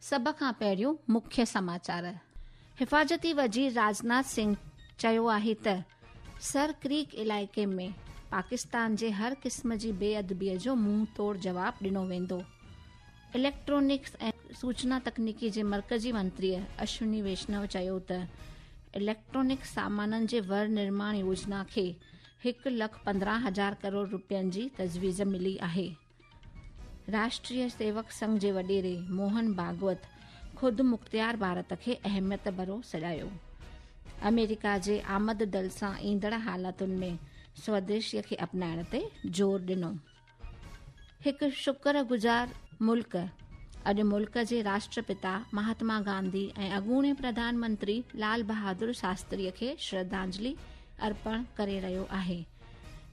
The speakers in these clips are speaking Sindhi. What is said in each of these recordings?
سڀ کان پهريون مکيه سماچار، حفاظتي وزير راجناٿ سنگهه چيو آهي ته سر ڪريڪ علائقي ۾ پاڪستان جي هر قسم جي بي ادبي جو منهن توڙ جواب ڏنو ويندو. اليڪٽرانڪس ۽ سوچنا تڪنيڪي جي مرڪزي منتري اشوني ويشنو چيو ته اليڪٽرانڪ سامانن جي ور نرماڻ يوجنا کي هڪ لک پندرهن هزار ڪروڙ روپين جي تجويز ملي آهي. راشٽريه سيوڪ سنگهه جي وڏيري موهن ڀاگوت خود مختيار ڀارت کي اهميت ڀرو سڏايو آمريڪا جي آمد دل سان ايندڙ حالتن ۾ سوديشي کي اپنائڻ تي زور ڏنو هڪ شڪر گذار ملڪ اڄ ملڪ جي راشٽرپتا مهاتما گانڌي ۽ اڳوڻي پرڌان منتري لال بهادر شاستري کي شرڌانجلي ارپڻ ڪري رهيو آهي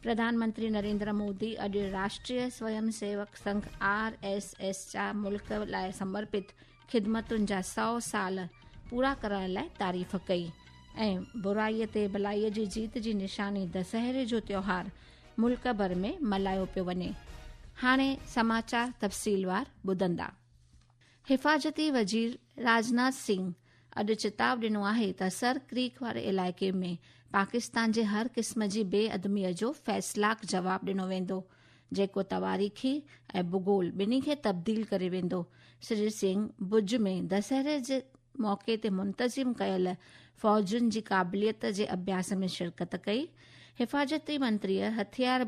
پرڌان منتري نريندر مودي اڄ Rashtriya Swayamsevak Sangh R S S جا ملڪ لاء سمرپت خدمتن جا سؤ سال پورا ڪرائڻ لاء تعريف ڪئي ۽ برائي تي ڀلائي جي جيت جي نشاني دسهري جو تيوهار ملڪ ڀر ۾ ملهايو پيو وڃي هاڻي سماچار تفصيلوار ٻڌندا حفاظتي وزير راجناٿ سنگھ اڄ چتاء ڏنو آهي ته سر ڪريڪ واري علائقي ۾ پاڪستان جي هر قسم جي بي ادميء جو فيصلاڪ جواب ڏنو ويندو، جيڪو تواريخي ۽ ڀوڳول ٻنهي کي تبديل ڪري ويندو. سري سنگهه ڀڄ ۾ دسهري جي موقعي تي منتظم ڪيل فوجن جي قابليت جي اڀياس ۾ شرڪت ڪئي. حفاظتي منتريء هٿيار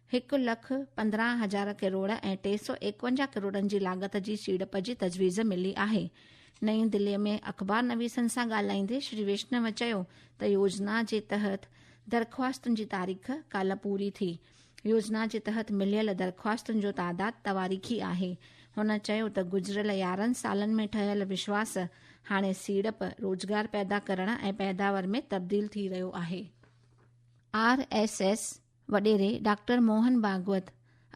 هڪ لک پندرهن هزار ڪروڙ ۽ ٽي سؤ ايڪونجاهه ڪروڙن جي لاڳت جي سيڙپ جي تجويز ملي آهي. نئين دلي ۾ اخبار نويسن سان ڳالهائيندي شري ويشنو چيو ته يوجنا جي تحت درخواستن جي تاريخ ڪالهه پوري ٿي، يوجنا جي تحت مليل درخواستن جو تعداد تواريخي آهي، هن چيو ته گذريل يارهن سالن ۾ ٺهيل وشواس هاڻي سيڙپ، روزگار پيدا ڪرڻ ۽ پيداور ۾ تبديل ٿي رهيو آهي. آر ايس ايس وڏيري ڊاڪٽر موهن ڀاڳوت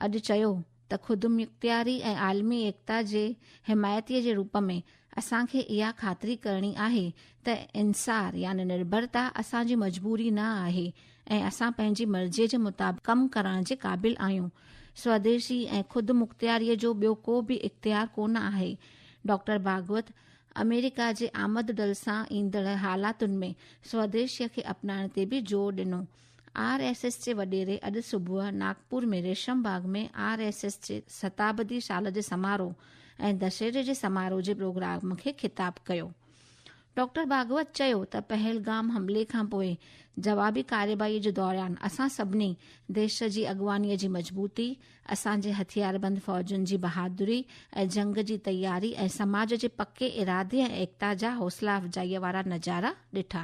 اڄ چيو ته خودمختياري ۽ عالمي ايڪتا جي حمايتي جي روپ ۾ اسان کي اها خاطري ڪرڻي آهي ته انحصار يعني نرڀرتا اسان جي مجبوري نه آهي ۽ اسان پنهنجي مرضي جي مطابق ڪم ڪرڻ جي قابل آهيون، سوديسي ۽ خودمختياري جو ٻيو ڪو به اختيار ڪونه آهي، ڊاڪٽر ڀاڳوت آمريڪا جي آمدڊل سان ايندڙ حالاتن ۾ سوديسيء کي اپنائڻ تي به زور ڏنو. آر ايس ايس جي وڏيري اڄ صبح Nagpur ۾ Resham Bagh ۾ R S S جي ستابدي سال جي سماروهه ۽ دشهري جي سماروهه جي پروگرام کي خطاب ڪيو. ڊاڪٽر ڀاڳوت چيو ته پهلگام حملي کانپوء جوابي ڪارروائي جي دوران اسان سڀني ديش جي اڳواڻي جي مضبوطي، اسان جي هٿياربند فوجن جي بهادري ۽ جنگ جي تياري ۽ سماج جي پڪي ارادي ۽ ايڪتا جا حوصلا افزائي وارا نظارا ڏٺا.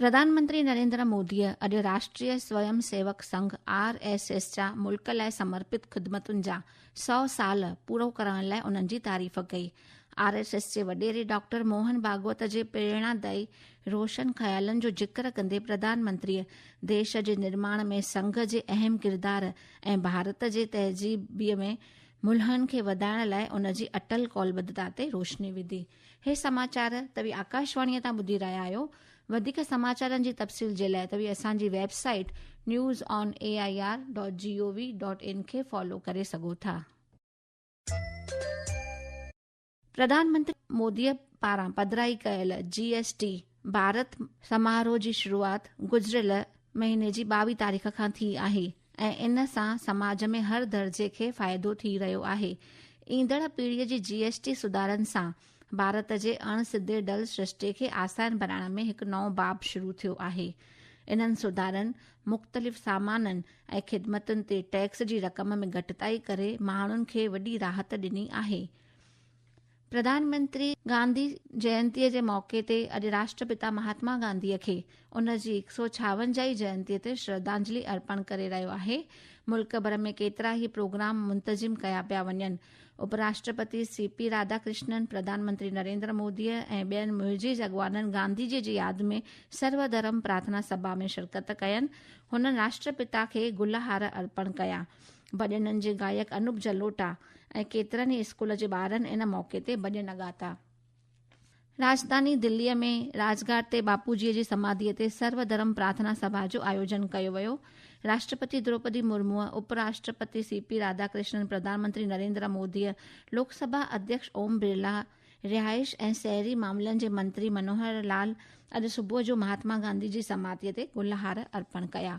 پرڌانمنتري نريندر موديء اڄ Rashtriya Swayamsevak Sangh R S S جا ملڪ لاء سمرپت خدمتن جا سؤ سال پورو ڪرائڻ لاء انهن جي تعريف ڪئي. آر ايس ايس جي وڏيري ڊاڪٽر موهن ڀاڳوت جي پريڻادائي روشن خيالن جو ذڪر ڪندي پرڌانمنتريء ديش جي نرماڻ ۾ سنگهه جي اهم ڪردار ۽ ڀارت جي تهذيبي ۾ ملهن کي وڌائڻ لاء ان جي اٽل قولبدتا تي روشني وڌي. هي سماچار توهي آڪاشواڻيء تان ٻڌي رهيا آهيو. وڌيڪ سماچارن جي تفصيل جي لاء توهي اسان جي website news on A I R dot G O V dot in کي فالو ڪري سگهو ٿا. پرڌان منتري موديء پاران پڌرائي ڪيل جي ايس ٽي ڀارت سماروه جي شروعات گذريل مهيني جي ٻاويهه تاريخ کان ٿي آهي. ۽ ان سان سماج ۾ هر درجي کي فائدو ٿي رهيو آهي. ايندڙ پيڙهيء جي جي ايس ٽي سڌارن سان ڀارت جي اڻ سڌي ڊل سرشتي کي آسان بڻائڻ ۾ هڪ نئون باب شروع ٿيو آهي. انهن سڌارن مختلف سامانن ۽ خدمتن تي ٽيڪس جي رقم ۾ گهٽتائي ڪري ماڻهن کي وڏي راحت ڏني آهي. پرڌان منتري گانڌي جينتي جي موقعي تي اڄ راشٽرپتا مهاتما گانڌي کي ان جي هڪ سؤ ڇاونجاهي جينتي تي شرڌانجلي ارپڻ ڪري رهيو آهي ملڪ ڀر ۾ ڪيترا ئي پروگرام منتظم ڪيا پيا وڃن اپ راشٽرپتي سي پي راڌا ڪرشنن پرڌان منتري نريندر مودي ۽ ٻين معزز اڳواڻن گانڌي جي جي ياد ۾ سرو ڌرم پرارٿنا سڀا ۾ شرڪت ڪين هنن راشٽرپتا کي گل هار ارپڻ ڪيا ڀڄنن جي گائڪ انوپ جلوٽا ۽ ڪيترن ئي اسڪول جي ٻارن ان موقعي تي ڀڄن ڳاتا. راجڌاني دلي ۾ راج گھاٽ تي باپوجي جي سماڌي تي سرو ڌرم پرارٿنا سڀا جو آيوجن ڪيو ويو، راشٽرپتي دروپدي مرموء، اپ راشٽرپتي سي پي راڌا ڪرشنن، پرڌان منتري نريندرا موديء، لوڪ سڀا اڌيڪش اوم برلا، رهائش ۽ شهري معاملن جي منتري منوهر لال اڄ صبح جو مهاتما گانڌي جي سماڌي تي گل هار ارپڻ ڪيا.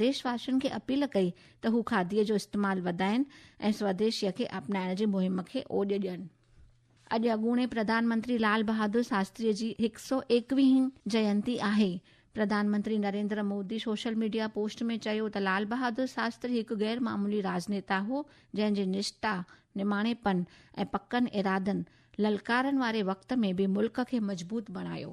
ديش واسين کي اپيل ڪئي ته هو کاڌيء جو استعمال وڌائين ۽ سوديشيء کي اپنائڻ جي مهم کي اوڄ ڏين. اڄ اڳوڻي پرڌان منتري لال بهادر شاستريء جي هڪ سؤ ايڪويهين جينتي آهي. پرڌان منتري Narendra Modi social media post ۾ چيو ته لال بهادر شاستري هڪ غير معمولي راڄنيتا هو جنهن جي نشٽا، نماڻي پن ۽ پڪن ارادن للڪارن واري وقت ۾ به ملڪ کي مضبوط بڻايو.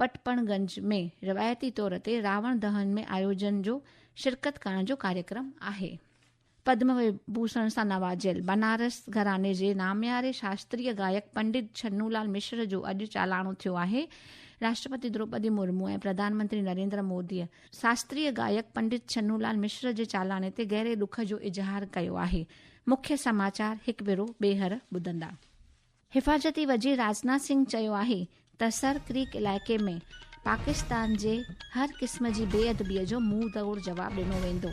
پٽپڻ گنج ۾ روايتي طور تي راوڻ دهن ۾ آيوجن جو شرڪت ڪرڻ جو ڪاريڪرم آهي. پدم وبوسڻ سان نوازيل بنارس گهراڻي جي نامياري شاستريه گائڪ پنڊت ڇنو لال مشر جو اڄ چالاڻو ٿيو آهي. راشٽرپتي دروپدي مرمو ۽ پرڌان منتري نريندر موديء شاستريه گائڪ پنڊت ڇنو لال مشر جي چالاڻي تي گهري ڏک جو اظهار ڪيو آهي. مکيه سماچار هڪ ڀيرو ٻيهر ٻڌندا. حفاظتي وزير راجناٿ سنگهه چيو آهي ته سر ڪريڪ علائقي ۾ پاڪستان جي هر قسم جي بي ادبي جو منهن تؤڙ جواب ڏنو ويندو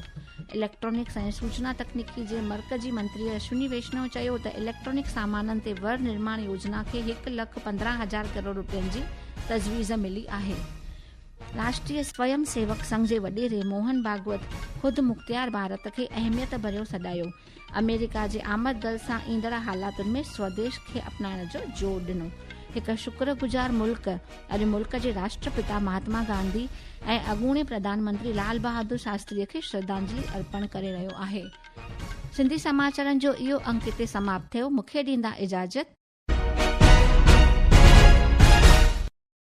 اليڪٽرانڪس ۽ سوچنا تڪنيڪي جي مرڪزي منتري اشوني ويشنو چيو ته اليڪٽرانڪ سامانن تي ور نرماڻ يوجنا کي هڪ لک پندرهن هزار ڪروڙ روپين جي تجويز ملي آهي راشٽري سويم سيوڪ سنگهه جي وڏيري موهن ڀاگوت خود مختيار ڀارت کي اهميت ڀريو سڏايو آمريڪا جي آمد دل سان ايندڙ حالاتن ۾ سوديش کي اپنائڻ جو زور ڏنو. هڪ شڪر گذار ملڪ اڄ ملڪ جي راشٽرپتا مهاتما گانڌي ۽ اڳوڻي پرڌان منتري لال بهادر شاستري کي شرڌانجلي ارپڻ ڪري رهيو آهي. سنڌي سماچارن جو اهو انڪ هتي سماپت ٿيو. مون کي ڏيندا اجازت.